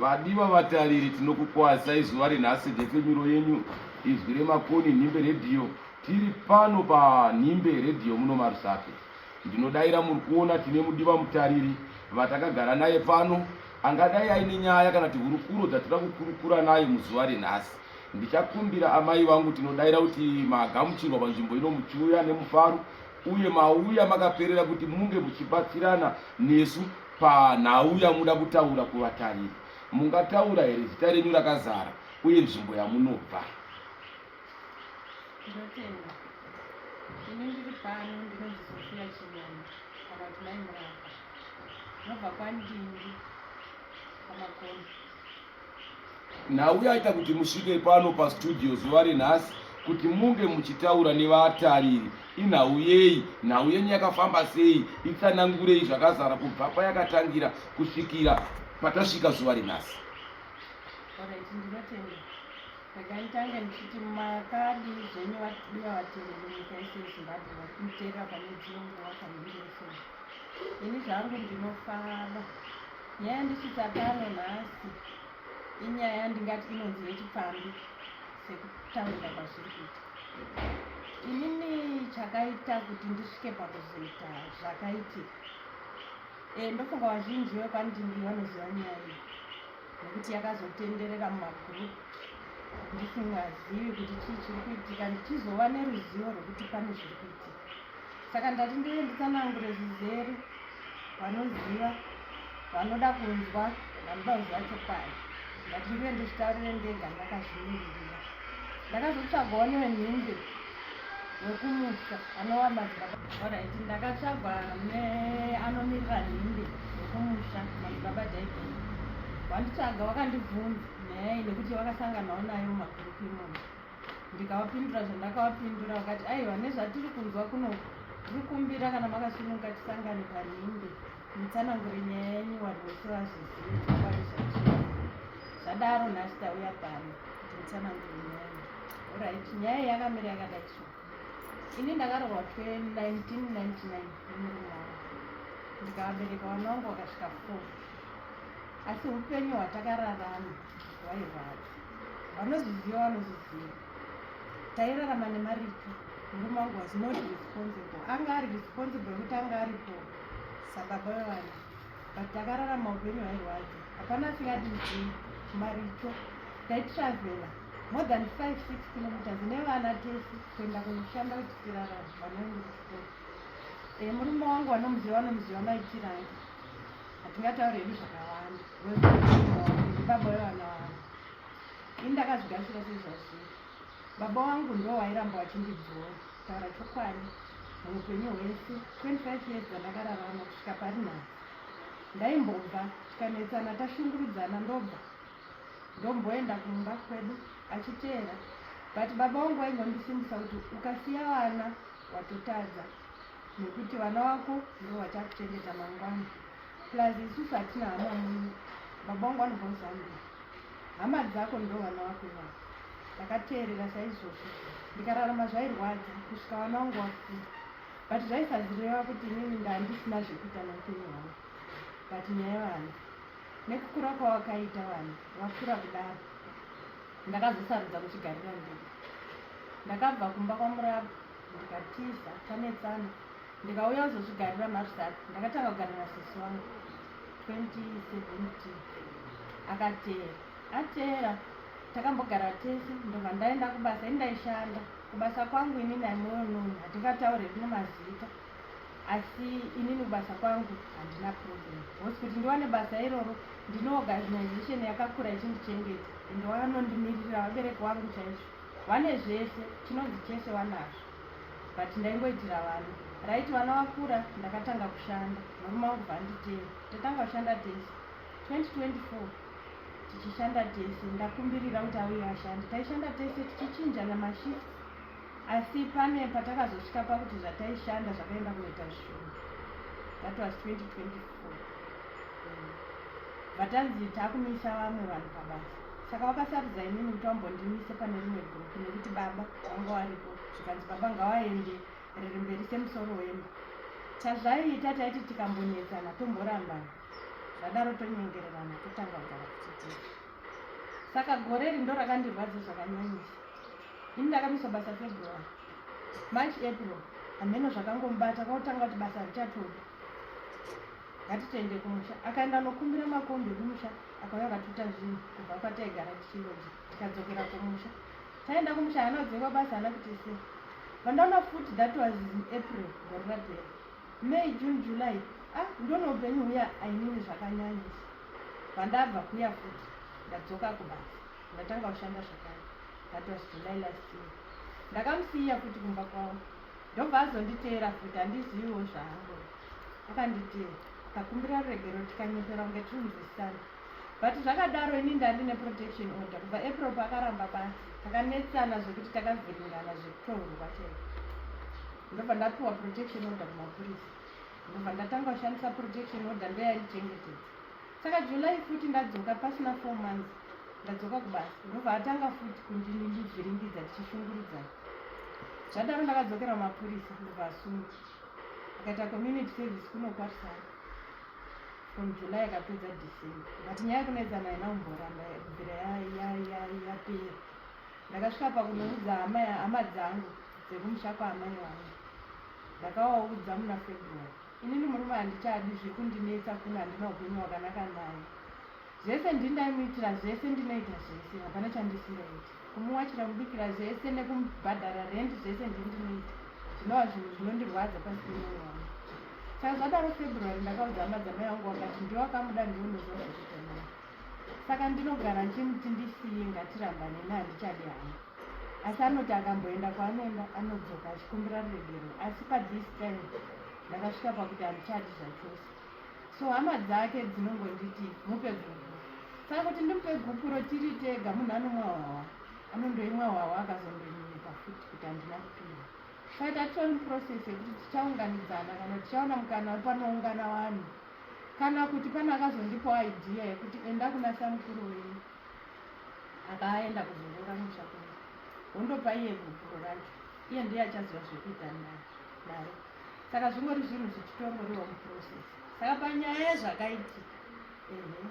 Vadiwa vatariri tinokukwazisai zuva renhasi defemiro yenyu izwi remakoni nhimbe redhiyo tiri pano panhimbe redhiyo muno marusake ndinodaira muri kuona tine mudiwa mutariri vatakagara naye pano angadai aine nyaya kana tihurukuro dzatira kukurukura naye muzuva renhasi ndichakumbira amai vangu tinodaira kuti magamuchirwa panzvimbo ino muchiuya nemufaro uye mauya makaperera kuti munge muchibatsirana nesu panhau yamuda kutaura kuvatariri mungataura here zita renyu rakazara uye nzvimbo yamunobva ndotenda ini ndiri pano ndinonzi sofiya chimwana kana kuti mai murapa ndinobva kwandindi pamakono nhau yaita kuti musvike pano pastudio zuva renhasi kuti munge muchitaura nevatariri inhau yei nhau yenyu yakafamba sei itsanangurei zvakazara kubva payakatangira kusvikira patasvika zuva renhasi rekanditange ndichiti makadi zvenyu vatibuya vatereri nyika yese yezimbabwe vari kumuterera pane dzino nguva kaindirefoni ini zvangu ndinofara Nyaya yandisvitsa pano nhasi inyaya yandingati inonzi yechipfambi sekutaurira kwazviri kuita inini chakaita kuti ndisvike pakuzoita zvakaitika e, ndofunga vazhinji vekwandimbi vanoziva nyaya iyi nekuti yakazotenderera mumagroup ndisingazivi kuti chii chiri kuitika ndichizova neruzivo rwekuti pane zviri kuitika saka ndati ndiye nditsanangure zvizere vanoziva vanoda kunzwa vanoda kuziva chokwadi ndati ndiye ndizvitarire ndega ndakazvimirira ndakazotsvagawo newe nhimbe wekumusa anowa madzibaba orit ndakatsvagwa neanomirira nhimbe wekumusha madzibaba david wanditsvaga wakandibvunza nyaya iyi nekuti wakasanganawo nayo mumagurupu imomo ndikavapindura zvandakavapindura vakati aiwa nezvatiri kunzwa kuno tikumbira kana makasununguka tisangane panhimbe mutsanangure nyaya yenyu vanhu vese vazvizivaizvachii zvadaro nhasi tauya pano kuti mutsanangure nyaya orit nyaya yakamira yakada chii ini ndakarorwa 1999 nemurume wavo ndikavabereka vana vangu vakasvika four asi upenyu hwatakararama vairwadza vanozviziva vanozviziva tairarama nemaripi murume wangu was not responsible anga ari responsible yekuti anga aripo sababa vevana but takararama upenyu hwairwadza hapana asingadii maricho taitravela more than five six kilometers nevana tese kuenda kunoshanda kuti tirarama vanoenda kuchikoro eh, murume wangu vanomuziva vanomuziva maitiranga hatingataure hedu zvakawanda baba wevana wangu ini ndakazvigarisira sezvazviri baba wangu ndo wairamba wachindibvora taura chokwadi muupenyu hwese 25 years dzandakararama kusvika pari nhasi ndaimbobva tikanetsana tashungurudzana ndobva ndomboenda kumba kwedu achiteera but baba wangu waingondisimbisa kuti ukasiya vana watotadza nekuti vana vako ndivo vachakuchengeta mangwana plus isusu hatina hama muni baba wangu vanobva kuzambia hama dzako ndo vana vako ivavo ndakateerera saizvozvo ndikararama zvairwadza kusvika vana wangu wakuda but zvaisazireva kuti inini ndandisina zvekuita neupenyu hwangu but nyaya vana nekukura kwawakaita vana wakura kudaro ndakazosarudza kuchigarira ndii ndakabva kumba kwamurapa ndikatiza tanetsana ndikauya kuzozvigarira marzat ndakatanga kugara nasisi wangu 2017 akateera ateera takambogara tese ndobva ndaenda kubasa indaishanda kubasa kwangu inini aimoyo noni hatingataure rine mazita asi inini kubasa kwangu handina problem hosi kuti ndiwane basa iroro ndine organization yakakura ichindichengeta ende wakanondimirira vabereki wangu chaizvo Vane zvese, chinonzi chese vanazvo but ndaingoitira vana. Right vana vakura ndakatanga kushanda murume wangu bvanditeya. Tatanga kushanda tese 2024 tichishanda tese ndakumbirira kuti auye ashande. Taishanda tese tichichinjana mashifts asi pane patakazosvika pakuti zvataishanda zvakaenda kunoita zvishoma that was 2024 vatanzi takumisa vamwe vanhu pabasa saka vakasarudza inini kuti vambondimise pane rimwe group nekuti baba vanga varipo zvikanzi baba ngavaende riri mberi semusoro wemba chazvaiita taiti tikambonetsana tomborambana zvadaro tonyengererana totanga kugara kuchitiri saka gore ri ndo rakandirwadza zvakanyanyisa ini ndakamiswa basa february march april hameno zvakangomubata kwautanga kuti basa richatoda ngatitende kumusha akaenda anokumbira makombi ekumusha akauya akatuta zvinhu kubva kwataigara tichinodya tikadzokera kumusha taenda kumusha hana kudzingwa basa hana kuti se vandaona futi that was in april gore rapera may june july ah ndona upenyu huya ainini zvakanyanyisa vandabva kuya futi ndadzoka kubasa ndatanga kushanda zvakare that was july last year ndakamusiya futi kumba kwavo ndobva azonditeera futi handiziviwo zvangu akanditii takumbira ruregero tikanyepera kunge tiri muzisana but zvakadaro ini ndandi neprotection order kubva april paakaramba basi takanetsana zvekuti takavhiringana zvekutohurwa chete ndobva ndapiwa protection order kumapurisa ndobva ndatanga kushandisa protection order ndoyaichengetedza saka july futi ndadzoka pasina four months ndadzoka kubasa ndobva atanga futi kundindivhiringidza tichishungurudzana zvadaro ndakadzokera kumapurisa ndobva asunga akaita community service kuno kwarisana from july akapedza december but nyaya yekunoedzana haina kumboramba kubvira yapera ndakasvika pakunoudza hama hama dzangu dzekumusha kwaamai wangu ndakawaudza muna february Inini murume handichadi zviri kundinetsa kuno handina upenyu hwakanaka naye. Zvese ndini ndaimuitira zvese ndinoita zvese hapana chandisingaiti. Kumuwachira kubikira zvese nekumubhadhara rent zvese ndini ndinoita. Zvinova zvinhu zvinondirwadza pasi pemwoyo wangu. Saka zvadaro February ndakaudza hama dzamai vangu vakati ndiwe wakamuda ndiwe unoziva zvekuita naye. saka ndinogara ndichimuti ndisiye ngatirambaneni handichadi hangu asi anoti akamboenda kwaanoenda anodzoka achikumbira ruregerero asi pathis time ndakasvika pakuti handichadi zvachose so hama dzake dzinongonditi mupe gupu saka kuti ndimupe gupuro tiri tega munhu anomwa hwawa anondoimwa hwawa akazondonyepa futi kuti handina kupihwa faita tony process yekuti tichaunganidzana kana tichaona mukana wepanoungana vanhu Kana kuti pane akazondipawo idea yekuti enda kuna samukuru wenyu apa aenda kuzorora musha kwenyu wondopa iye gupuro racho iye ndiye achaziva zvekuita naro saka zvingori zvinhu zvichitongoriwa muprocess saka panyaya yezvakaitika ehe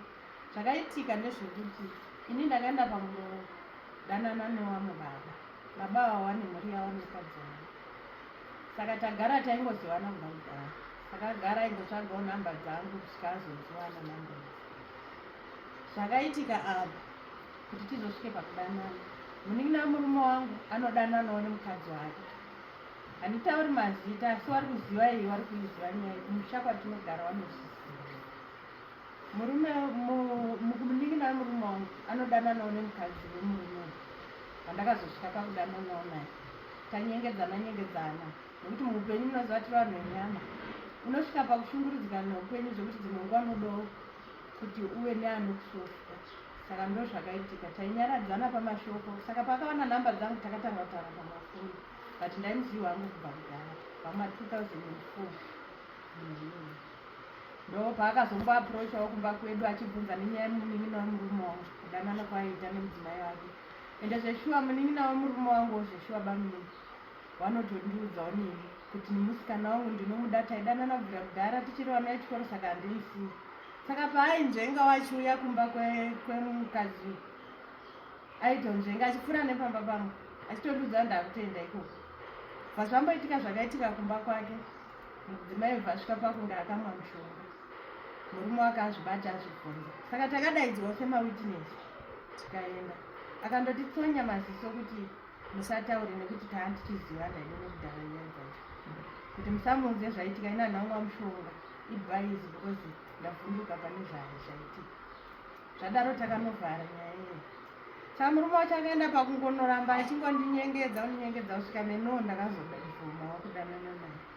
zvakaitika ndezvekuti ini ndakaenda pamudanana newamwe baba baba ava wane mhuri yavo nekadzi wavo saka tagara taingozivana kubva kudhara Akagara aingotsvagawo nhamba dzangu kusvika azodziwana nhamba zvakaitika apa kuti tizosvike pakudanana munin'ina wemurume wangu anodananawo nemukadzi wake handitauri mazita asi wari kuziva iyi wari kuiziva nyaya kumusha kwatinogara vanozviziva murume munin'ina wemurume wangu anodananawo nemukadzi wemurume wandakazosvika pakudananawo naye tanyengedzana nyengedzana, nyengedzana. Nekuti muupenyu munoziva tiri vanhu venyama, unosvika pakushungurudzika neupenyu zvekuti dzimwe nguva unodawo kuti uve neanokusofta. Saka ndozvakaitika, tainyaradzana pamashoko saka paakawana nhamba dzangu takatanga kutaura pamafoni but ndaimuziva wangu kubva kudhara pama 2004 ndo paakazombo aprochawo kumba kwedu achibvunza nenyaya yemunin'ina wemurume wangu kudanana kwaiita nemudzimai wake ende zveshuwa munin'ina wemurume wangu wozveshuwa bamnini Wanotondiudzawo neni kuti nemusikana wangu ndinomuda taidanana kubvira kudhara tichiri vana vechikoro saka handimusiyi. Saka paainzvenga wachiuya kumba kwemukadzi aitonzvenga achipfuura nepamba pangu achitondiudza ndakutoenda ikoko. Vazvamboitika zvakaitika kumba kwake mudzimai vhasvika pakunge akamwa mushonga murume wake azvibata azvibvunza saka takadaidzwa semawitness tikaenda akandoti tsonya maziso kuti musataure nekuti taa ndichizivana ine nekudhara nyaya dzacho kuti musamuudze zvaitika ina nhangwa mushonga ibaizi because ndavhunduka pane zvayo zvaitika zvadaro takanovhara nyaya iyo sa murume wacho akaenda pakungonoramba achingondinyengedza undinyengedza kusvika neno ndakazoda kuvhuma wakudanana naye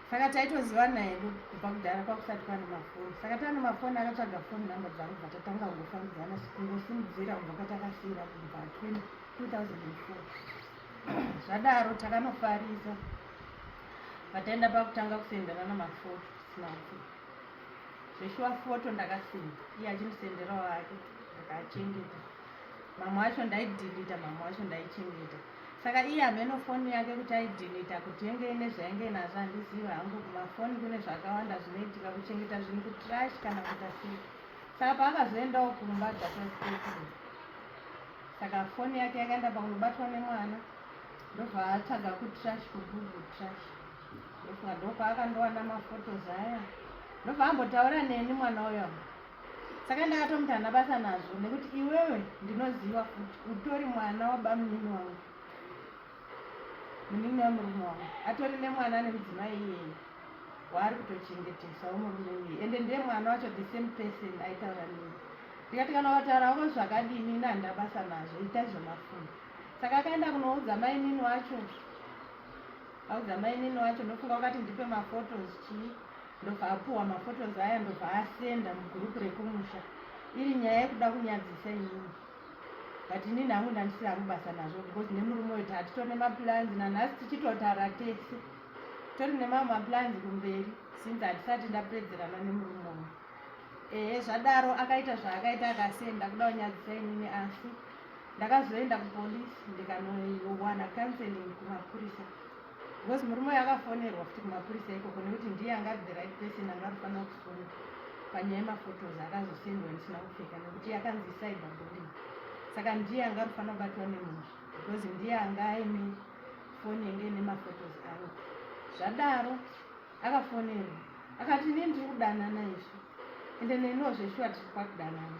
saka taitozivana hedu kubva kudhara kwakusati pane mafoni saka tane mafoni akatsvaga foni number dzangu bva tatanga kungofambidzana kungosimudzira kubva kwatakasiyira kubva 2004 zvadaro takanofarisa pataenda pakutanga kusendana namafoto sinati zveshuwa foto ndakasenda iye achimusenderawo ake ndakachengeta mamwe acho ndaidhilita mamwe acho ndaichengeta saka iye hameno foni yake kuti aidhilita kuti yenge ine zvainge nazvo handizivi hangu kumafoni kune zvakawanda zvinoitika kuchengeta zvinhu kutrash kana kuita sei saka paakazoendawo kumba dzataspekiri saka foni yake yakaenda pakunobatwa nemwana ndovaatsvaga kutrash kugugu trash ndofunga ndopaakandowana mafotos aya ndovambotaura neni mwana uyo saka ndakatomuti hana basa nazvo nekuti iwewe ndinoziva futi utori mwana wabamunini wangu munini wamurume wangu atori nemwana ane mudzimai iyeye waari kutochengetesa womurume iyeye ende ndiye mwana wacho the same person aitaura nini ndikati kana wataura wako zvakadini ini handina basa nazvo ita zvemafundo saka akaenda kunoudza mainini wacho audza mainini wacho ndofunga wakati ndipe mafotos chii ndobva apuwa maphotos aya ndobva asenda mugroup rekumusha iri nyaya yekuda kunyadzisa inini but inini hangu ndandisiri hangu basa nazvo because nemurume uyu tatitori nemaplans nanhasi tichitotara tese tori nemamwe maplans kumberi since hatisati ndapedzerana nemurume uyu ehe zvadaro akaita zvaakaita akasenda kuda kunyadzisa inini asi ndakazoenda kupolice ndikanowana counseling kumapurisa because murume uyu akafonerwa futi kumapurisa ikoko nekuti ndiye anga ari the right person anga arifanira kufunga panyaya yemaphotos akazosendwa ndisina kupfeka nekuti yakanzi cyber bulling saka ndiye anga arifanira kubatwa nemunhu because ndiye anga aine foni yange ine maphotos ayo zvadaro akafonerwa akati ini ndiri kudanana izvi ende neniwo zveshuwa tiri kwakudanana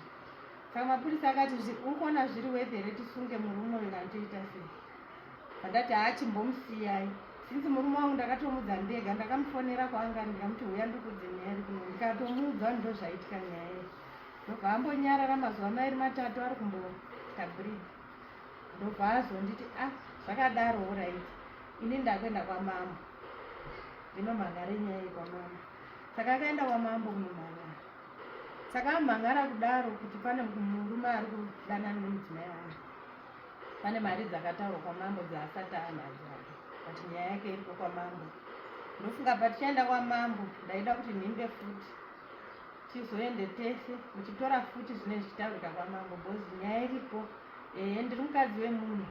saka mapurisa akati uri kuona zviri wethere tisunge murume uyu kana toita sei Ndati haachimbomusiyai since murume wangu ndakatomudza ndega ndakamufonera kwaanga ndikamuti huya ndikudze nyaya iri kuno ndikatomuudza ndo zvaitika nyaya iri ndobva ambonyarara mazuva mairi matatu ari kumboita brid ndobva azonditi a ah, zvakadaro orit ini ndakuenda kwamambo ndinomhangare nyaya iyi kwamambo saka akaenda kwamambo kunomhangara saka amhangara kudaro kuti pane murume ari kudanana nemudzimai wangu Pane mari dzakataurwa kwamambo dzaasati anadzo but nyaya yake iripo kwamambo. Ndofunga patichaenda kwamambo ndaida kuti nhimbe futi tizoende tese muchitora futi zvinenge zvichitaurika kwamambo bhozi nyaya iripo ehe ndiri mukadzi wemunhu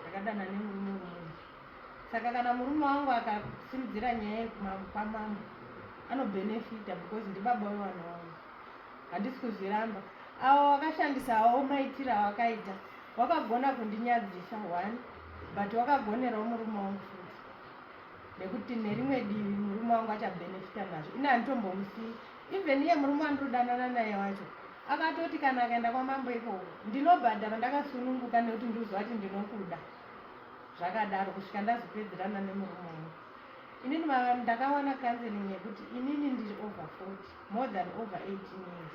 ndakadana nemurume wemunhu saka kana murume wangu akasimudzira nyaya kwamambo anobhenefita because ndibaba wevana wangu handisi kuzviramba awo wakashandisa awo maitiro awakaita wakagona kundinyadzisa one but wakagonerawo murume wangu futi nekuti nerimwe divi murume wangu achabhenefita nazvo ini handitombomusii even iye murume wandinodanana naye wacho akatoti kana akaenda kwamambo ikoko ndinobhadhara ndakasununguka nekuti ndiriziva kuti ndinokuda zvakadaro kusvika ndazopedzerana nemurume wangu inini ndakawana counseling yekuti inini ndiri over forty more than over 18 years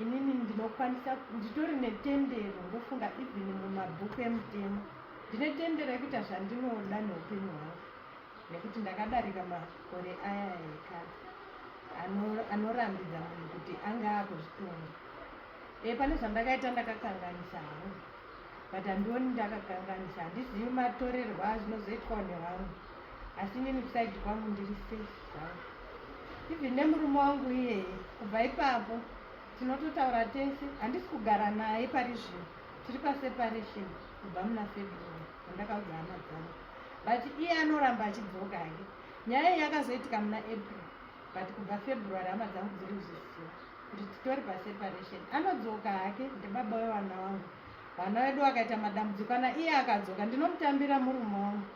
inini ndinokwanisa nditori netendero ndofunga even mumabhuku emutemo ndine tendero yekuita zvandinoda neupenyu hwangu nekuti ndakadarika makore aya ekare anorambidza munhu kuti anga akuzvitonga e pane zvandakaita ndakakanganisa hangu but handioni ndakakanganisa handizivi matorerwo azvinozoitwa nevanhu asi inini kusaidi kwangu ndiri safe zvangu even nemurume wangu iyeye kubva ipapo tinototaura tese handisi kugara naye pari zvino tiri paseparation kubva muna february andakaudza hama dzangu but iye anoramba achidzoka hake nyaya iyi yakazoitika muna april but kubva february hama dzangu dziri kuzvisiwa kuti titori paseparation anodzoka hake ndibaba wevana wangu vana vedu vakaita madambudziko kana iye akadzoka ndinomutambira murume wangu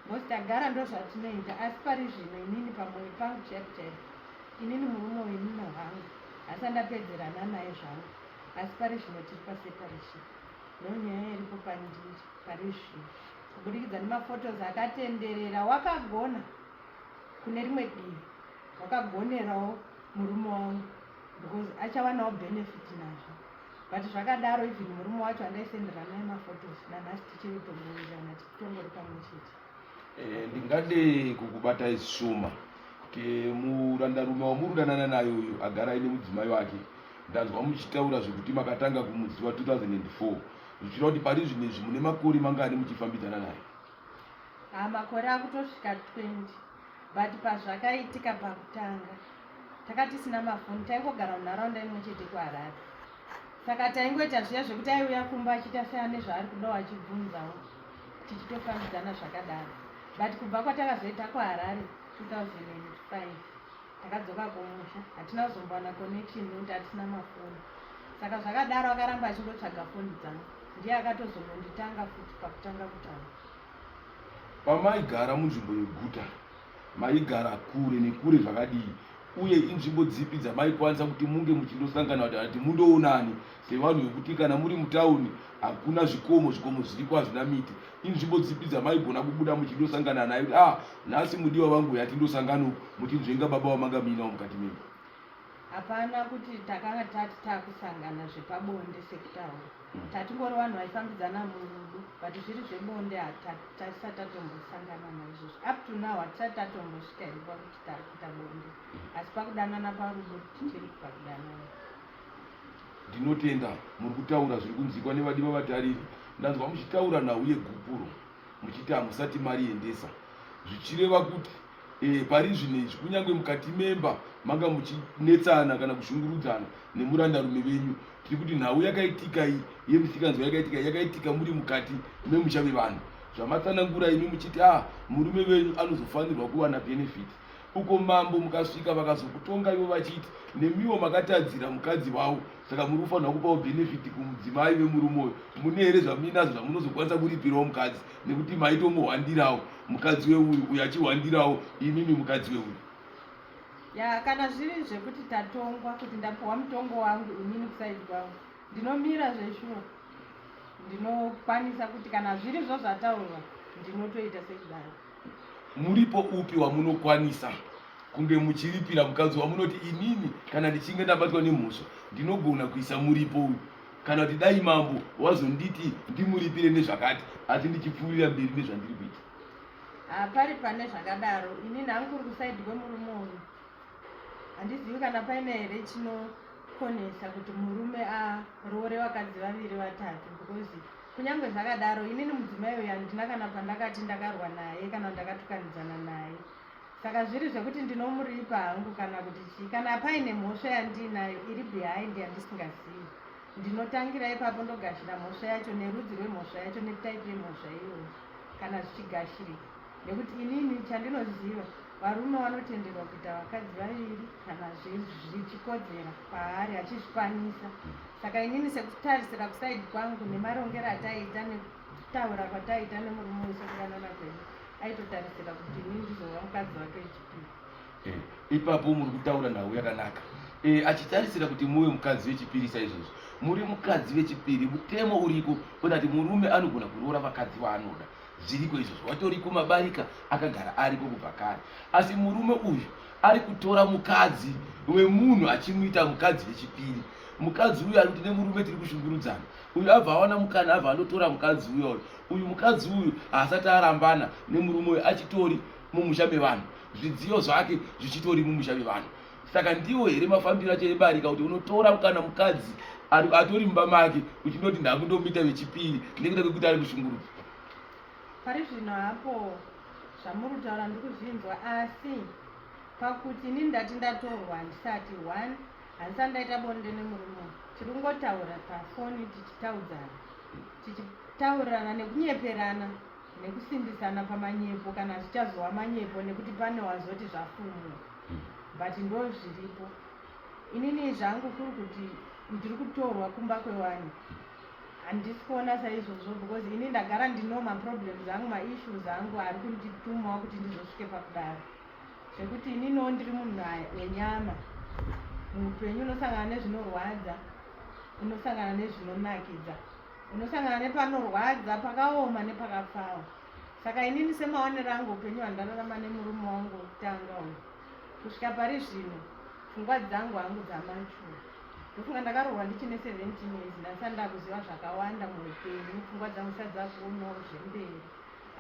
Because tagara ndozvatinoita asi pari zvino inini pamoyo pangu chaiko chaiko inini murume wenyu no hangu asi andapedzerana naye zvangu asi pari zvino tiri paseparation no nyaya iripo pandiri pari zvino kubudikidza nemafotos akatenderera wakagona kune rimwe divi wakagonerawo murume wangu because achawanawo benefit nazvo but zvakadaro even murume wacho andaisenderana nemafotos nanhasi tichiri kutongowirirana Eh, ndingade kukubatai zvishoma kuti murandarume wamuri kudanana naye uyu agara aine mudzimai wake ndanzwa muchitaura zvekuti makatanga kumuziva 2004 zvichira kuti pari zvine izvi mune makore mangani muchifambidzana naye ah, makore akutosvika 20 but pazvakaitika pakutanga taka tisina mafoni taingogara munharaunda imwe chete kuharare saka taingoita zviya zvekuti aiuya kumba achiita seane zvaari kudawo achibvunzawo tichitofambidzana zvakadaro but kubva kwatakazoita kuharare 2005 takadzoka kumusha hatina kuzombowana connection nekuti hatisina mafoni saka zvakadaro akaramba achingotsvaga foni dzangu ndiye akatozombonditanga futi pakutanga kutaura Pamaigara munzvimbo yeguta maigara kure nekure zvakadii uye inzvimbo dzipi dzamaikwanisa kuti munge muchindosangana kuti ati mundoonani sevanhu vekuti kana muri mutauni hakuna zvikomo zvikomo zviriko hazvina miti inzvimbo dzipi dzamaigona kubuda muchindosangana naye kuti ah nhasi mudiwa vangu yati ndosangano muchinzvenga baba vamanga muinawo mukati menyu hapana kuti takanga tati takusangana zvepabonde sekutaura tatingori vanhu vaifambidzana murudo but zviri zvebonde hatisati tatombosangana naizvozvo up to now hatisati tatombosvika iri pakuti tari kuita bonde mm. asi pakudanana parudo tiri kupa kudanana ndinotenda muri kutaura zviri kunzikwa nevadiva vatariri ndanzwa muchitaura nhau yegupuro muchiti hamusati mariendesa zvichireva kuti E, pari zvino izvi kunyange mukati memba manga muchinetsana kana kushungurudzana nemurandarume venyu tiri kuti nhau yakaitika iyi yemisikanzwa yakaitika yakaitika muri mukati memusha vevanhu zvamatsanangura imi muchiti a ah, murume venyu anozofanirwa kuwana benefit uko mambo mukasvika vakazokutonga ivo vachiti nemiwo makatadzira mukadzi wavo saka muri kufanirwa kupawo benefit kumudzimai vemurume uyo mune here zvamuinazvo zvamunozokwanisa kuripirawo mukadzi nekuti maitomuhwandirawo mukadzi weuyu uyu achihwandirawo imimi mukadzi weuyu ya kana zviri zvekuti tatongwa kuti ndapiwa mutongo wangu inini kusaidi kwangu ndinomira zveshuwa ndinokwanisa kuti kana zviri zvo zvataurwa ndinotoita sekudaro muripo upi wamunokwanisa kunge muchiripira mukadzi wamunoti inini kana ndichinge ndabatwa nemhosva ndinogona kuisa muripo uyu kana kuti dai mambo wazonditi ndimuripire nezvakati asi ndichipfuurira mberi nezvandiri kuita hapari pane zvakadaro ini nhangu kuri kusaidi kwemurume uyu handizivi kana paine here chinokonesa kuti murume aroore vakadzi vaviri vatatu because kunyange zvakadaro inini mudzimai uyu handina kana pandakati ndakarwa naye kana ndakatukanidzana naye saka zviri zvekuti ndinomuripa hangu kana kuti chii kana paine mhosva yandiinayo iri behind yandisingazivi ndinotangira ipapo ndogashira mhosva yacho nerudzi rwemhosva yacho netaipi yemhosva iyoyo kana zvichigashirika nekuti inini chandinoziva varume vanotenderwa kuita vakadzi vaviri kana zvichikodzera paari achizvikwanisa saka inini sekutarisira kusaidi kwangu nemarongero ataiita Kutaura kwataita nemurume uyu sokudanana kwedu aitotarisira kuti ini ndizova mukadzi wake wechipiri. Eh, ipapo muri kutaura nhau yakanaka eh, achitarisira kuti muve mukadzi wechipiri saizvozvo muri mukadzi wechipiri mutemo uriko kuona kuti murume anogona kuroora vakadzi vaanoda zviriko izvozvo watoriko mabarika akagara ariko kubva kare asi murume uyu ari kutora mukadzi wemunhu achimuita mukadzi wechipiri mukadzi uyu ari kuti nemurume tiri kushungurudzana uyu abva awana mukana abva andotora mukadzi uya uyu uyu mukadzi uyu haasati arambana nemurume uyu achitori mumusha mevanhu zvidziyo zvake zvichitori mumusha mevanhu saka ndiwo here mafambiro acho ebarika kuti unotora kana mukadzi atori mumba make uchindoti ndakundomuita vechipiri nekuda kwekuti ari kushungurudzo pari zvino hapo zvamuri kutaura ndiri kuzvinzwa asi pakuti ini ndati ndatorwa handisati one Handisati ndaita bonde nemurume uyu. Tiri kungotaura pafoni tichitaudzana. Tichitaurirana nekunyeperana nekusimbisana pamanyepo kana zvichazova manyepo nekuti pane wazoti zvafumwa. But ndozviripo. Inini zvangu kuri kuti ndiri kutorwa kumba kwewani. Handisi kuona saizvozvo because ini ndagara ndino maproblems angu maissues angu ari kunditumawo kuti ndizosvike pakudaro. zvekuti ininiwo ndiri munhu wenyama muupenyu unosangana nezvinorwadza unosangana nezvinonakidza unosangana nepanorwadza pakaoma nepakapfawa saka inini semaonero angu upenyu hwandararama nemurume wangu wekutanga uyu kusvika pari zvino pfungwa dzangu hangu dzamachura ndofunga ndakarohwa ndichine 17 years ndasani ndakuziva zvakawanda muupenyu pfungwa dzangu sadzakoonawo zvemberi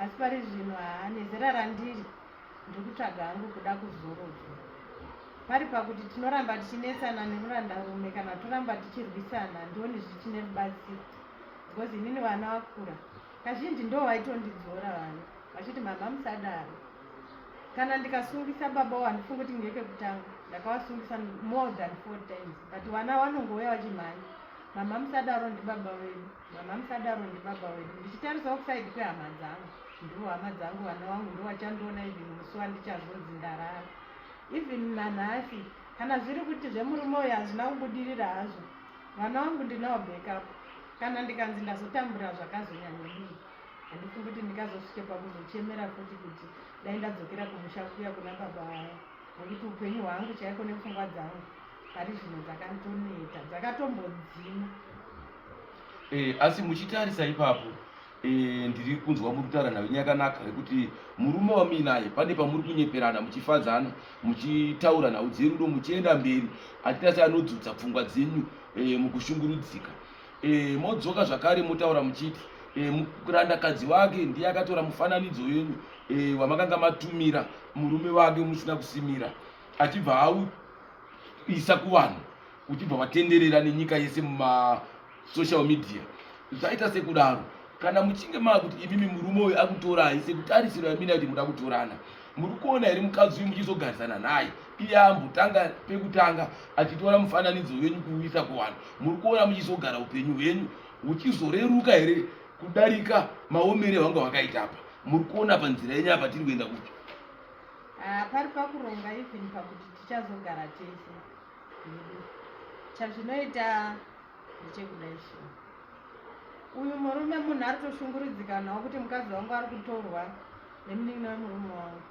asi pari zvino haa nezera randiri ndiri kutsvaga hangu kuda kuzorodzwa pari pakuti tinoramba tichinetsana nemurandarume kana toramba tichirwisana ndioni zvichine rubatsiro because inini vana vakura kazhinji ndo vaitondidzora vana vachiti mama musadaro kana ndikasungisa baba wandifunga kuti ngekekutanga ndakavasungisa more than four times but vana vanongouya vachimhanya mama musadaro ndibaba vedu Mama musadaro ndibaba wedu. Ndichitarisawo kuside kwehama dzangu. Ndivo hama dzangu vana wangu ndovachandiona even musi wandichazonzi ndarara. Even nanhasi kana zviri kuti zvemurume uyu hazvina kubudirira hazvo. Vana wangu ndinawo backup. Kana ndikanzi ndazotambura zvakazonyanya mii. Handifungi kuti ndingazosvike pakuzochemera futi kuti dai ndadzokera kumusha kuya kuna baba vaya. nekuti upenyu hwangu chaiko nepfungwa dzangu pari zvino dzakantoneta dzakatombodzima eh, asi muchitarisa ipapo eh, ndiri kunzwa muri kutaura nhau inyakanaka yekuti murume wamuinaye pane pamuri kunyeperana muchifadzana muchitaura nhau dzerudo muchienda mberi atitati anodzudza pfungwa dzenyu eh, mukushungurudzika e, modzoka zvakare motaura muchiti e, eh, murandakadzi wake ndiye akatora mufananidzo wenyu e, wamakanga matumira murume wake musina kusimira achibva auisa kuvanhu uchibva watenderera nenyika yese mumasocial media zvaita sekudaro kana muchinge maakuti imimi murume uyu akutorai sekutarisiro yamina kuti muda kutorana muri kuona here mukadzi uyu muchizogarisana naye iye ambotanga pekutanga achitora mufananidzo wenyu kuuisa kuvanhu muri kuona muchizogara upenyu hwenyu huchizoreruka here kudarika maomere hwanga hwakaita apa muri kuona panzira yenyu apa tiri kuenda kupi ah, pari pakuronga even pakuti tichazogara tese chazvinoita ndechekudai shuwa uyu murume munhu ari toshunguridzika nhau kuti mukadzi wangu ari kutorwa nemunin'ina wemurume wangu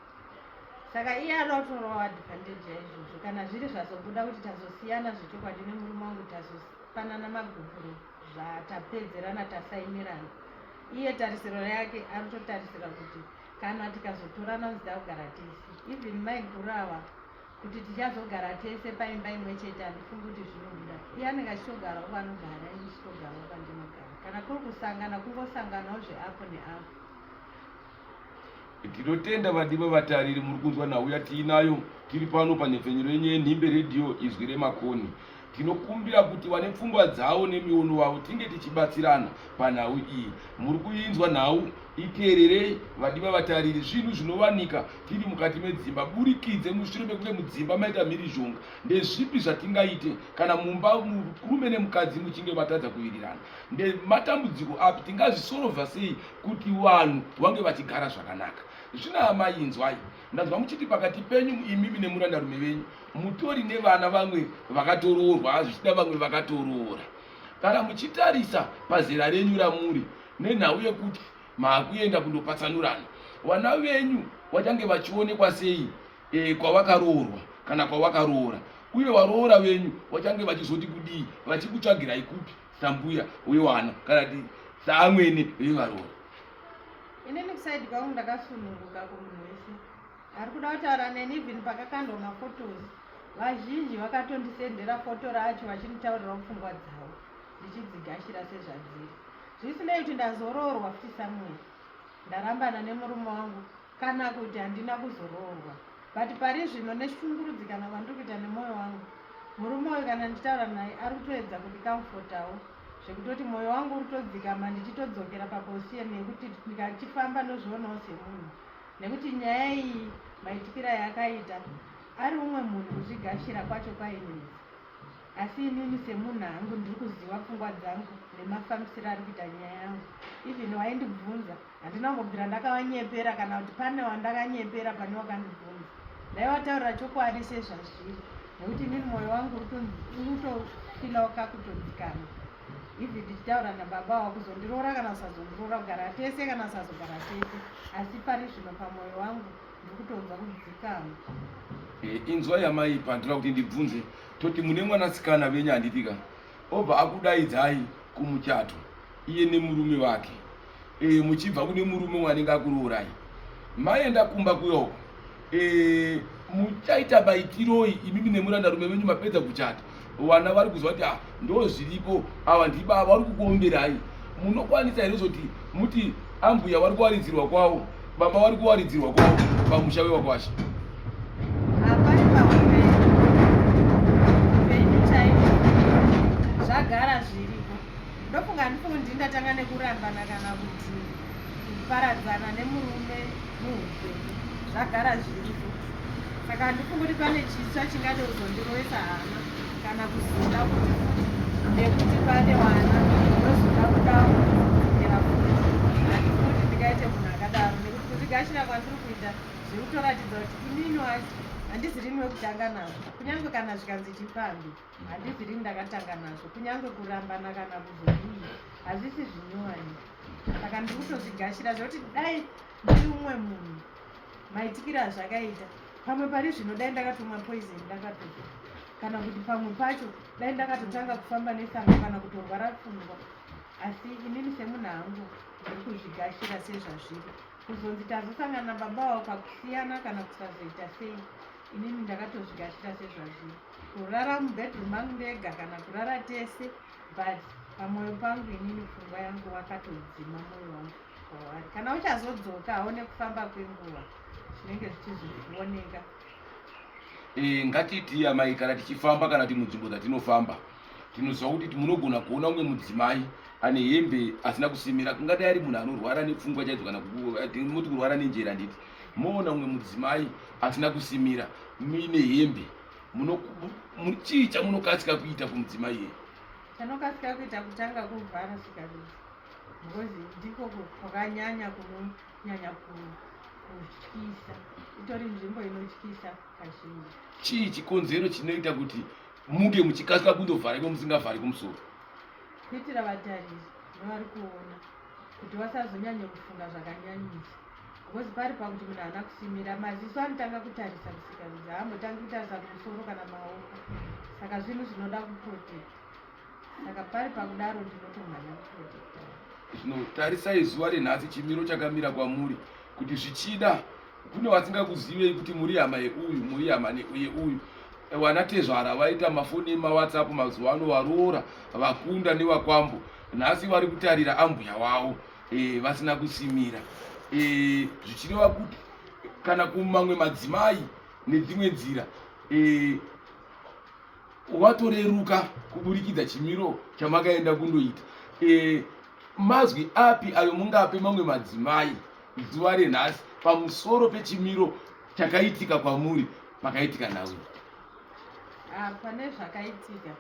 saka iye anoda kutorawo advantage yaizvozvo kana zviri zvazobuda kuti tazosiyana zvechokwadi nemurume wangu tazopanana magupuro zvatapedzerana tasaimirana iye tarisiro yake ari totarisira kuti kana tikazotorana zita kugara tisi even maiguru ava kuti tichazogara tese paimba imwe chete handifungi kuti zvinobuda iye anenge achitogarawo vanogara ini ndichitogarawo pandinogara kana kuri kusangana kungosanganawo zveapo neapo tinotenda vadiwa vatariri muri kunzwa nhau yatiinayo tiri pano panhepfenyuro yenyu yenhimbe redhiyo izwi remakoni Tinokumbira kuti vane pfungwa dzavo nemiono wavo tinge tichibatsirana panhau iyi. Muri kuinzwa nhau? Iteererei vadiwa vatariri. Zvinhu zvinovanika tiri mukati medzimba burikidze mushure mekunge mudzimba maita mhirizhonga. Ndezvipi zvatingaite kana mumba murume nemukadzi muchinge vatadza kuvirirana? Ndematambudziko api tingazvisorovha sei kuti vanhu vange vachigara zvakanaka? Zvina amai inzwai. Ndanzwa muchiti pakati penyu imimi nemurandarume venyu mutori nevana vamwe vakatoroorwa zvichida vamwe vakatoroora kana muchitarisa pazera renyu ramuri nenhau yekuti maakuenda kundopatsanurana vana venyu vachange vachionekwa sei e, kwavakaroorwa kana kwavakaroora uye varoora venyu vachange vachizoti kudii vachikutsvagirai kupi sambuya wevana kana ti saamwene vevaroora inini kusaidi kwangu ndakasununguka kumunhu wese ari kuda kutaura neni even pakakandwa mafotos vazhinji vakatondisendera foto racho vachinditaurirawo pfungwa dzavo ndichidzigashira sezvadziri zvisinei kuti ndazoroorwa futi samuel ndarambana nemurume wangu kana kuti handina kuzoroorwa but pari zvino neshungurudzi kana kwandiri kuita nemwoyo wangu murume uyu kana ndichitaura naye ari kutoedza kundikamfotawo zvekutoti mwoyo wangu uri todzikama ndichitodzokera paposition yekuti ndikachifamba ndozvionawo semunhu nekuti nyaya iyi maitikiro ayakaita ari umwe munhu kuzvigashira kwacho kwainini asi inini semunhu hangu ndiri kuziva pfungwa dzangu nemafambisiro ari kuita nyaya yangu even waindibvunza handina kungobvira ndakavanyepera kana kuti pane wandakanyepera pane wakandibvunza ndaivataurira chokwadi sezvazviri nekuti inini mwoyo wangu utofila wakakutodzikana even ndichitaura nababa ava kuzondiroora kana kusazondiroora kugara tese kana kusazogara tese asi pari zvino pamwoyo wangu ndiri kutonzwa kudzikama eh, inzwa yamai pandira kuti ndibvunze toti mune mwanasikana venyu handipika obva akudaidzai kumuchato iye nemurume wake e, muchibva kune murume wanenge akurourayi maenda kumba kuyo e, muchaita baitiroi imimi nemuranda rume venyu mapedza kuchata vana vari kuziva kuti ah, ndo zviripo ava ndibava vari kukuomberai munokwanisa here zoti muti ambuya vari kuwaridzirwa kwavo baba vari kuwaridzirwa kwavo pamusha wevakwasha Ndofunga handifundi ndatanga nekurambana kana kuti kuparadzana nemurume muupenyu zvagara zviriko saka handifungi kuti pane chitsva chingade kuzondiroesa hana kana kuzoda kuti nekuti pane wana ndozoda kudaera futi handifuti ndingaite munhu akadaro nekuti kuzvigashira kwandiri kuita zviri kutoratidza kuti inini wacho handizi rini wekutanga nazvo kunyange kana zvikanzi chipambi Handisi rini ndakatanga nazvo, kunyange kurambana kana kuzodii, hazvisi zvinyowani. Saka ndiri kutozvigashira zvekuti dai ndiri umwe munhu maitikira azvakaita pamwe pari zvino dai ndakatomwa poison ndakatofa kana kuti pamwe pacho dai ndakatotanga kufamba nesanga kana kutorwara pfungwa asi inini semunhu hangu ndiri kuzvigashira sezvazviri kuzonzi tazosangana baba wao pakusiyana kana kusazoita sei inini ndakatozvigashira sezvazviri kurara mubedroom mangu ndega kana kurara tese but pamoyo pangu inini pfungwa yangu wakatodzima moyo wangu wawari kana uchazodzoka aone kufamba kwenguva zvinenge zvichizvioneka eh, ngatitii amai kana tichifamba kana ti munzvimbo dzatinofamba tinoziva kuti munogona kuona umwe mudzimai ane hembe asina kusimira kungadai ari munhu anorwara nepfungwa chaidzo kana tinoti kurwara nenjera nditi moona umwe mudzimai asina kusimira muine hembe chii chamunokasika kuita kumudzimai yeye chanokasika kuita kutanga kuvhara sikabisa because ndiko kwakanyanya kunonyanya kutyisa itori nzvimbo inotyisa kazhinji chii chikonzero chinoita kuti muke muchikasika kundovhara iko musingavhari kumusoro kuitira vatariri nevari kuona kuti vasazonyanye kufunga zvakanyanyisa Because pari pakuti munhu haana kusimira maziso anotanga kutarisa kusika kuti haambotangi kutarisa kumusoro kana maoko saka zvinhu zvinoda kuprotect saka pari pakudaro ndinotomhanya kuprotect zvino tarisai zuva renhasi chimiro chakamira kwamuri kuti zvichida kune vasingakuzivei kuti muri hama yeuyu muri hama yeuyu wana tezvara vaita mafoni emawhatsapp mazuva ano varoora vakunda nevakwambo nhasi vari kutarira ambuya wavo e, vasina kusimira e, zvichireva kuti kana kumamwe madzimai nedzimwe nzira e, watoreruka kuburikidza chimiro chamakaenda kundoita e, mazwi api ayo mungape mamwe madzimai zuva renhasi pamusoro pechimiro chakaitika kwamuri pakaitika nhau ah, pane zvakaitika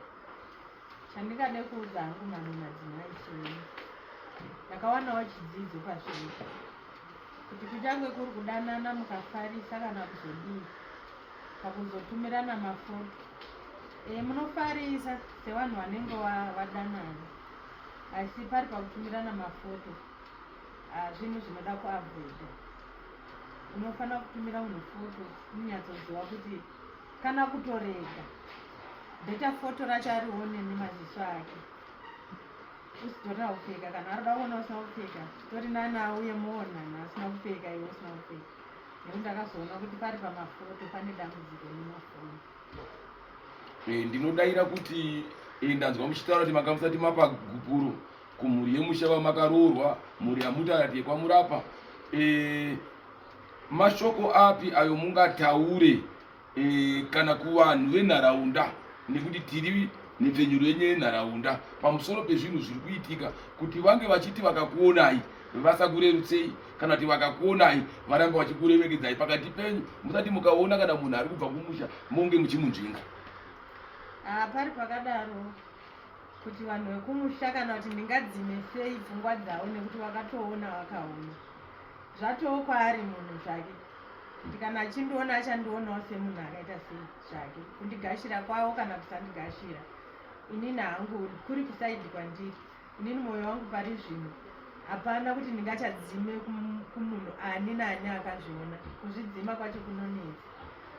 chandingade kuudza hangu mamwe madzimai chii ndakawanawo chidzidzo pazvino kuti kuchange kuri kudanana mukafarisa kana kuzodii pakuzotumirana mafoto e, munofarisa sevanhu vanenge vadanana asi pari pakutumirana mafoto ah, zvinhu zvinoda kuavoida unofanira kutumira munhu foto munyatsoziva kuti kana kutorega beta foto racho arione nemaziso ake usitorina kupfeka kana arida kuona usina kupfeka tori nani auye muonana asina kupfeka iwe usina kupfeka nekuti ndakazoona kuti pari pamafoto pane dambudziko nemafoni eh, ndinodaira kuti eh, ndanzwa muchitaura kuti makamusati mapagupuro kumhuri yemusha vamakaroorwa mhuri yamutarati yekwamurapa e, mashoko api ayo mungataure e, kana kuvanhu venharaunda nekuti tiri nepfenyuro yenye yenharaunda pamusoro pezvinhu zviri kuitika kuti vange vachiti vakakuonai vasakurerutsei kana kuti vakakuonai varambe vachikurevekedzai pakati penyu musati mukaona kana munhu ari kubva kumusha monge muchimunzvinga ah, pari pakadaro kuti vanhu vekumusha kana kuti ndingadzime sei pfungwa dzavo nekuti vakatoona vakaona zvatowo kwaari munhu zvake kuti kana achindiona achandionawo semunhu akaita sei zvake kundigashira kwavo kana kusandigashira inini hangu kuri kusaidi kwandiri inini mwoyo wangu pari zvino hapana kuti ndingachadzime kumunhu ani naani akazviona kuzvidzima kwacho kunonetsa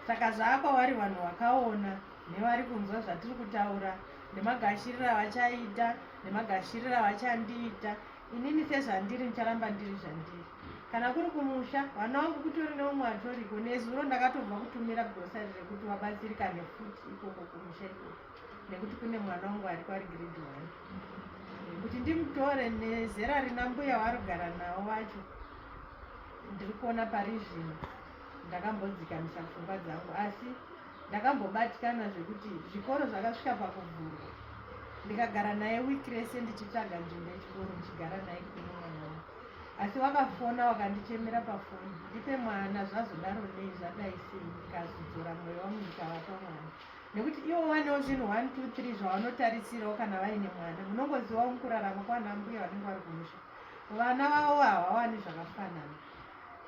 saka zvaakwavari vanhu vakaona nevari kunzwa zvatiri kutaura nemagashiriro avachaita nemagashiriro avachandiita inini sezvandiri ndicharamba ndiri zvandiri kana kuri kumusha vana wangu kutori neumwe atoriko nezuro ndakatobva kutumira grosari rekuti wabatsirika nefuti ikoko kumusha ikoko nekuti kune mwana wangu ari kwari grade one kuti ndimutore nezera rina mbuya warugara nawo vacho ndiri kuona pari zvino ndakambodzikamisa pfungwa dzangu asi Ndakambobatikana zvekuti zvikoro zvakasvika pakuvhurwa ndikagara naye week rese ndichitsvaga nzvimbo yechikoro ndichigara naye kunomwana asi wakafona wakandichemera pafoni ndipe mwana zvazodaro nei zvadai sei ndikazodzora mwoyo wangu ndikavapa mwana nekuti ivo vanewo zvinhu one two three zvavanotarisirawo kana vaine mwana munongozivawo mukurarama kwanambuya vanenge vari kumusha vana vavo havawani zvakafanana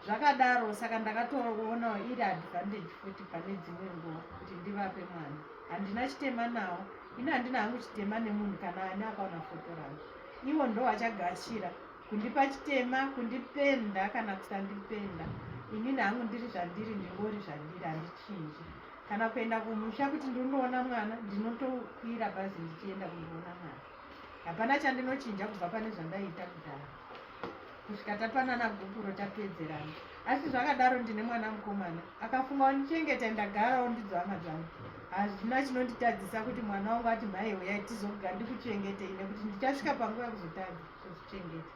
zvakadaro saka ndakatoona iri advantage futi pane dzimwe nguva kuti ndivape mwana handina chitema nawo ini handina hangu chitema nemunhu kana ani akaona foto rangu ivo ndo vachagashira kundipa chitema kundipenda kana kusandipenda inini hangu ndiri zvandiri ndingori zvandiri handichinji kana kuenda kumusha kuti ndinoona mwana ndinotokwira bhazi ndichienda kundiona mwana hapana chandinochinja kubva pane zvandaiita kudhara kusvika tapanana gupuro tapedzerana asi zvakadaro ndine mwana mukomana akafunga wandichengeta ndagarawo ndidzo hama dzangu hazvina chinonditadzisa kuti mwana wangu ati mhai huyai tizoga ndikuchengetei nekuti ndichasvika panguva yekuzotadza kuzvichengeta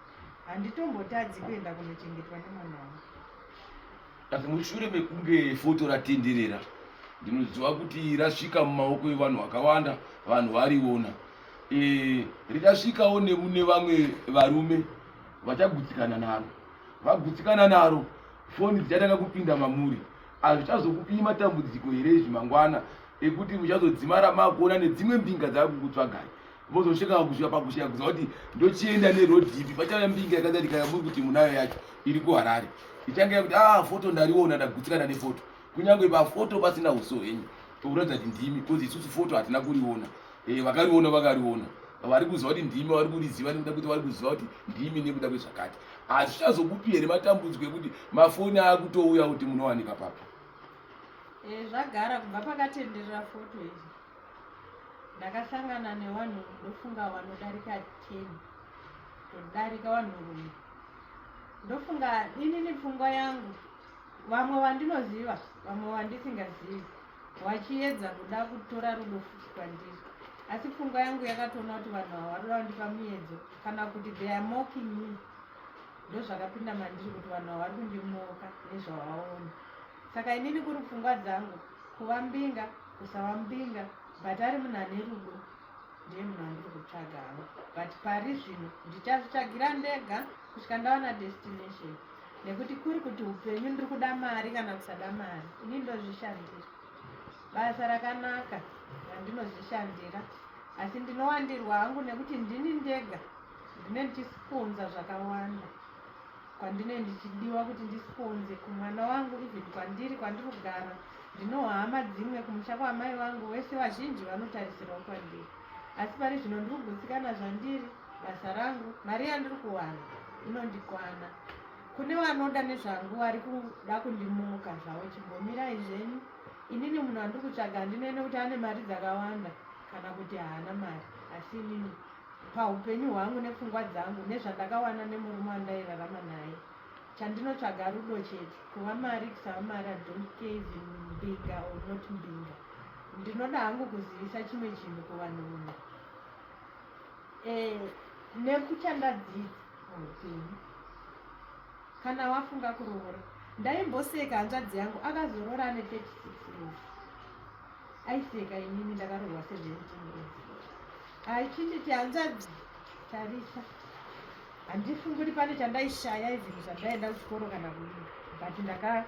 handitombotadzi kuenda kunochengetwa nemwana wangu Asi mushure mekunge foto ratenderera, ndinoziva kuti rasvika mumaoko evanhu vakawanda, vanhu variona e, richasvikawo nemune vamwe varume vachagutsikana naro. Vagutsikana naro, foni dzichatanga kupinda mamuri. Hazvichazokupii matambudziko here izvi mangwana ekuti muchazodzimara makuona nedzimwe mbinga dzava kukutsvagai? vozosvika pakusvika pakusvika kuziva kuti ndochienda neroad ipi pachava mbinga yakadarika yamuri kuti munayo yacho iri kuharare ichange yakuti a ah, foto ndariona ndagutsikana nefoto kunyange pafoto pasina uso henyu tokuratidza kuti ndimi bcause isusu foto hatina kuriona eh, vakariona vakariona vari kuziva kuti ndimi vari kuriziva nekuda kuti vari kuziva kuti ndimi nekuda kwezvakati asi zvichazokupi here matambudziko ekuti mafoni akutouya kuti munowanika papi eh, zvagara kubva pakatenderera foto izvi Ndakasangana nevanhu ndofunga vanodarika 10 todarika vanhurume ndofunga inini pfungwa yangu vamwe vandinoziva vamwe vandisingazivi vachiedza kuda kutora rudo futi kwandiri asi pfungwa yangu yakatoona kuti vanhu ava varoda vandipa miedzo kana kuti they are mocking me ndozvakapinda mandiri kuti vanhu ava vari kundimoka nezvavaona saka inini kuri pfungwa dzangu kuva mbinga kusava mbinga but ari munhu ane rudo ndiye munhu andiri kutsvaga hangu but pari zvino ndichazvitsvagira ndega kusvika ndawana destination nekuti kuri kuti upenyu ndiri kuda mari kana kusada mari ini ndozvishandira basa rakanaka randinozvishandira asi ndinowandirwa hangu nekuti ndini ndega ndine ndichikunza zvakawanda kwandine ndichidiwa kuti ndisponze kumwana wangu even kwandiri kwandiri kugara ndinohama dzimwe kumusha kwaamai vangu vese vazhinji vanotarisirawo kwandiri asi pari zvino ndiri kugutsikana zvandiri basa rangu mari yandiri kuwana inondikwana kune vanoda nezvangu vari kuda kundimuka zvavo chimbomirai zvenyu inini munhu andiri kutsvaga handinene kuti ane mari dzakawanda kana kuti haana mari asi inini pahupenyu hwangu nepfungwa dzangu nezvandakawana nemurume wandairarama naye chandinotsvaga rudo chete kuva mari kusava mari i don't care even mbinga or not mbinga ndinoda hangu kuzivisa chimwe chinhu kuvanhu vumwe e, eh, nekuchandadzidza muupenyu kana wafunga kuroora ndaimboseka hanzvadzi yangu akazorora ane 36 years aiseka inini ndakarohwa 17 years Aichititi hanzvadzi Tarisa, handifungi kuti pane chandaishaya izvinhu zvandaenda kuchikoro kana kudii, but ndaka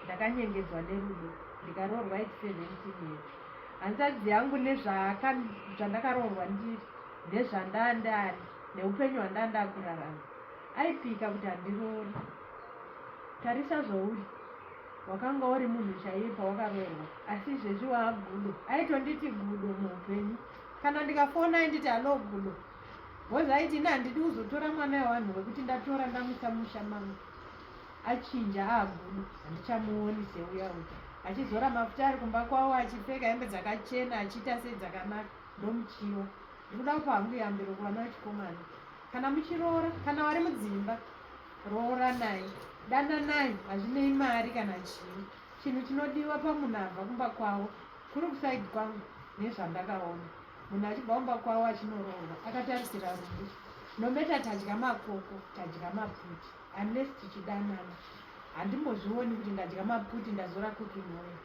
ndakanyengedzwa nerudo ndikaroorwa at seventeen years. Hanzvadzi yangu nezvaaka zvandakaroorwa ndiri nezvandaa ndaari neupenyu hwandaa ndakurarama aipika kuti handiroori. Tarisa zvouri wakanga uri munhu chaiye pawakaroorwa asi izvezvi waagudo aitonditi gudo muupenyu kana ndikafona ainditi halo gudo bhozi aiti ini handidi kuzotora mwana wevanhu wekuti ndatora ndamusa musha mangu achinja aagudo handichamuoni seuya uta achizora mafuta ari kumba kwavo achipfeka hembe dzakachena achiita sei dzakanaka ndomuchiwa ndikuda kupa hangu yambiro kuvana vechikomana kana muchiroora kana wari mudzimba rooranai dananai hazvinei mari kana chii chinhu chinodiwa pamunhu abva kumba kwavo kuri kusaidi kwangu nezvandakaona munhu achibva kumba kwavo achinoroorwa akatarisira rubu nometa tadya makoko tadya maputi unless tichidanana handimbozvioni kuti ndadya maputi ndazora kukinhoyo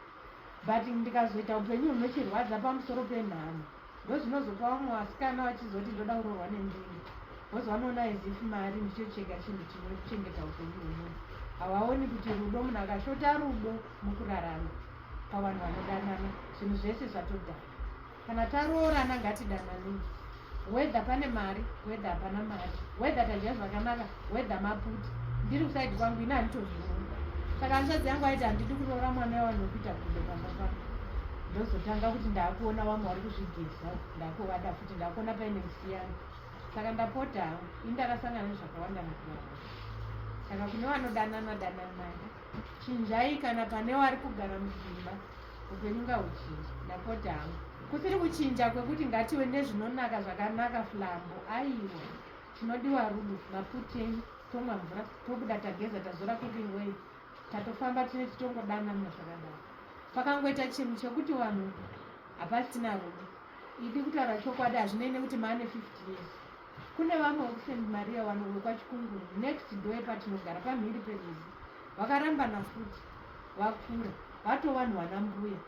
but ndikazoita upenyu hunochirwadza pamusoro penhamo ndozvinozopa vamwe vasikana vachizoti ndoda kurohwa nendini bcause vanoona as if mari ndicho chega chinhu chine kuchengeta upenyu hwemunhu havaoni kuti rudo munhu akashota rudo mukurarama pavanhu vanodanana zvinhu zvese zvatodana kana taroorana ngatidananei wether pane mari wether hapana mari wether tadya zvakanaka weather maputi ndiri kusaidi kwangu ini handitozviona saka hanzvadzi yangu aiti handidi kuroora mwana wevanhu wekuita gudo pamba pako ndozotanga kuti ndakuona vamwe vari kuzvigeza ndakuwada futi ndakuona paine musiyana saka ndapota hangu ini ndakasangana nezvakawanda mukurara saka kune vanodanana dananai chinjai kana pane wari kugara mudzimba upenyu ngahuchinja ndapota hangu kusiri kuchinja kwekuti ngative nezvinonaka zvakanaka flambo aiwa Chinodiwa rudo, maputei, tomwa mvura, tobuda tageza, tazora cooking oil, tatofamba tine titongodanana zvakadaro. Pakangoita chinhu chekuti vanhu hapasina rudo. Idi kutaura chokwadi hazvinei nekuti maane 50 years. Kune vamwe vekuSt Maria wano vekwaChikunguru next door yepatinogara pamhiri perwizi vakarambana futi vakura vato vanhu vana mbuya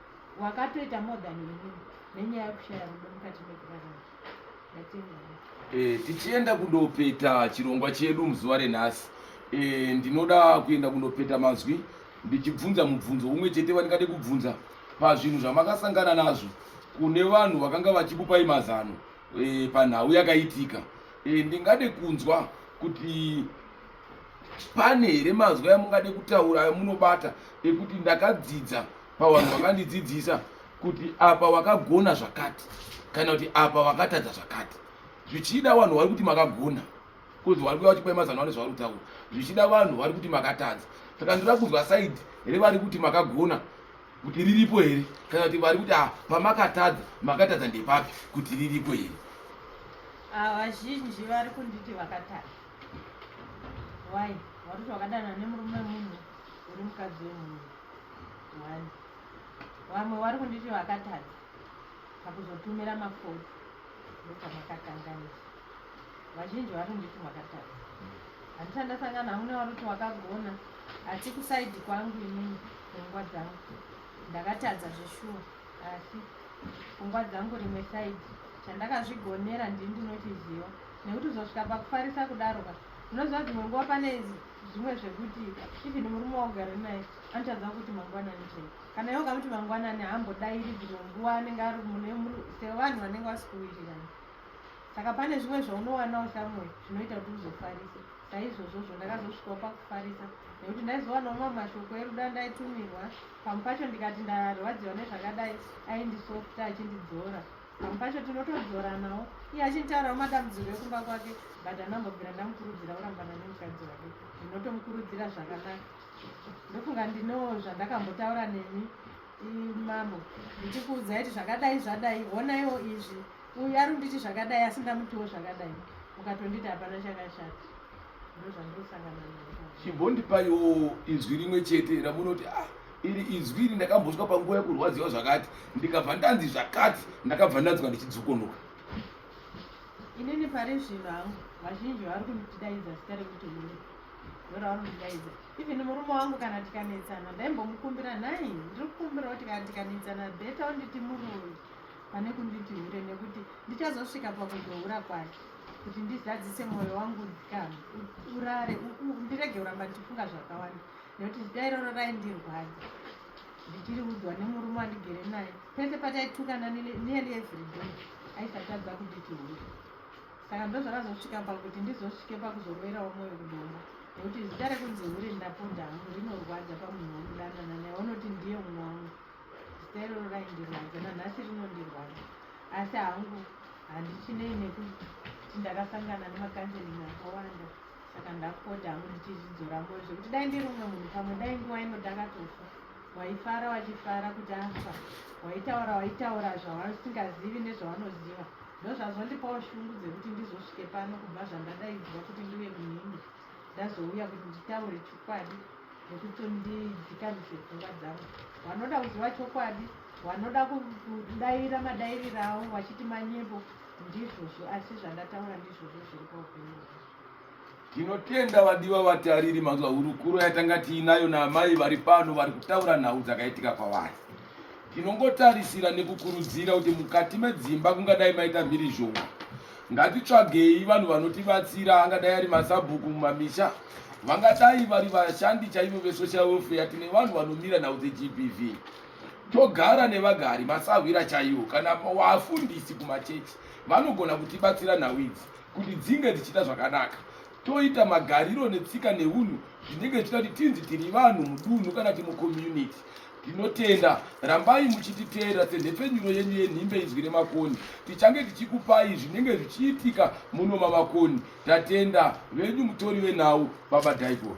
wakatoita more than inini nenyaya yekushaya rudo mukati mekurarama. E, tichienda kundopeta chirongwa chedu muzuva renhasi e, ndinoda kuenda kundopeta mazwi ndichibvunza mubvunzo umwe chete vandingade kubvunza pazvinhu zvamakasangana nazvo kune vanhu vakanga vachikupai mazano e, panhau yakaitika e, ndingade kunzwa kuti pane here mazwi amungade kutaura amunobata ekuti ndakadzidza pawanhu wakandidzidzisa kuti apa wakagona zvakati kana kuti apa wakatadza zvakati zvichida vanhu vari kuti makagona kuzi vari kuya vachipai mazano ane zvavari kutaura zvichida vanhu vari kuti makatadza saka ndira kunzwa saidi here vari kuti makagona kuti riripo here kana kuti vari kuti ah, pamakatadza makatadza ndepapi kuti riripo here ah, vazhinji vari kunditi vakatadza why vari kuti vakadanana nemurume munhu uri mukadzi wemunhu one vamwe vari kunditi vakatadza pakuzotumira mafoni ndokamakakanganisa vazhinji vari kunditi makatadza handisati ndasangana hamuna vari kuti wakagona asi kusaidi kwangu inini pfungwa dzangu ndakatadza zveshuwa asi pfungwa dzangu rimwe saidi chandakazvigonera ndini ndinochiziva nekuti uzosvika pakufarisa kudaro ka unoziva dzimwe nguva pane zvimwe zvekuti even murume waugara naye anotadza kuti mangwanani chai kana iwe ukamuti mangwanani haambodairi dzimwe nguva anenge ari mune sevanhu vanenge vasikuwirirana saka pane zvimwe zvaunowanawo shamwe zvinoita kuti uzofarise saizvozvozvo ndakazosvikawo pakufarisa nekuti ndaizowanawo mamwe mashoko eruda ndaitumirwa pamwe pacho ndikati ndarwadziwa nezvakadai aindisofta achindidzora pamwe pacho tinotodzoranawo iye achintaurawo madambudziko ekumba kwake but anambobvira ndamukurudzira kurambana nemukadzi wake ndinotomukurudzira zvakanaka ndofunga ndino zvandakambotaura nemi mambo ndichikuudza iti zvakadai zvadai honaiwo izvi uyu ari kunditi zvakadai asi ndamutiwo zvakadai ukatonditi hapana chakashata chimbondipaiwo inzwi rimwe chete ramunoti ah iri izwi iri ndakambosvika panguva yekurwadziwa zvakati ndikabva ndanzi zvakati ndakabva ndanzwa ndichidzokonoka inini pari zvino hangu vazhinji vari kundidaidza zita rekuti mune ndoravanondidaidza even murume wangu kana tikanetsana ndaimbomukumbira nhai ndiri kukumbirawo tikanetsana beta unditi murume pane kunditi hure nekuti ndichazosvika pakuzohura kwake kuti ndizadzise mwoyo wangu ndikama urare ndirege kuramba ndichifunga zvakawanda nekuti zita iroro raindirwadza ndichiri udzwa nemurume wandigere naye pese pataitukana nearly everyday aisatadza kunditi hure saka ndozvakazosvika pakuti ndizosvike pakuzoroverawo mwoyo kudoma nekuti zita rekunzi hure ndaponda hangu rinorwadza pamunhu womudanana naye unoti ndiye umwe wangu Zitairoro raindirwadza nanhasi rinondirwadza asi hangu handichinei nekuti ndakasangana nemakanseling akawanda saka ndakupota hangu ndichizvidzora moyo zvekuti dai ndiri umwe munhu pamwe dai nguva ino ndakatofa waifara wachifara kuti afa waitaura waitaura zvavasingazivi nezvavanoziva ndozvazondipawo shungu dzekuti ndizosvike pano kubva zvandadaidzwa kuti ndive munhini ndazouya kuti nditaure chokwadi nekuti ndidzikamizve pfungwa dzavo vanoda kuziva chokwadi vanoda kudaira madairiro avo vachiti manyimbo ndizvozvo asi zvandataura ndizvozvo zviri paupenyu tinotenda vadiwa vatariri mazuva hurukuro yatanga tiinayo naamai vari pano vari kutaura nhau dzakaitika kwavari tinongotarisira nekukurudzira kuti mukati medzimba kungadai maita mhirizhonga Ngatitsvagei vanhu vanotibatsira angadai ari masabhuku mumamisha vangadai vari vashandi chaivo vesocial welfare tine vanhu vanomira nhau dzegbv togara nevagari masahwira chaiwo kana wafundisi kumachechi vanogona kutibatsira nhau idzi kuti dzinge dzichiita zvakanaka toita magariro netsika neunhu zvinenge zvichita kuti tinzi tiri vanhu mudunhu kana kuti mucommunity Tinotenda, rambai muchititeerera senhepfenyuro yenyu yenhimbe Inzwi reMakoni. Tichange tichikupai zvinenge zvichiitika muno maMakoni. Tatenda, venyu mutori venhau, Baba Daigon.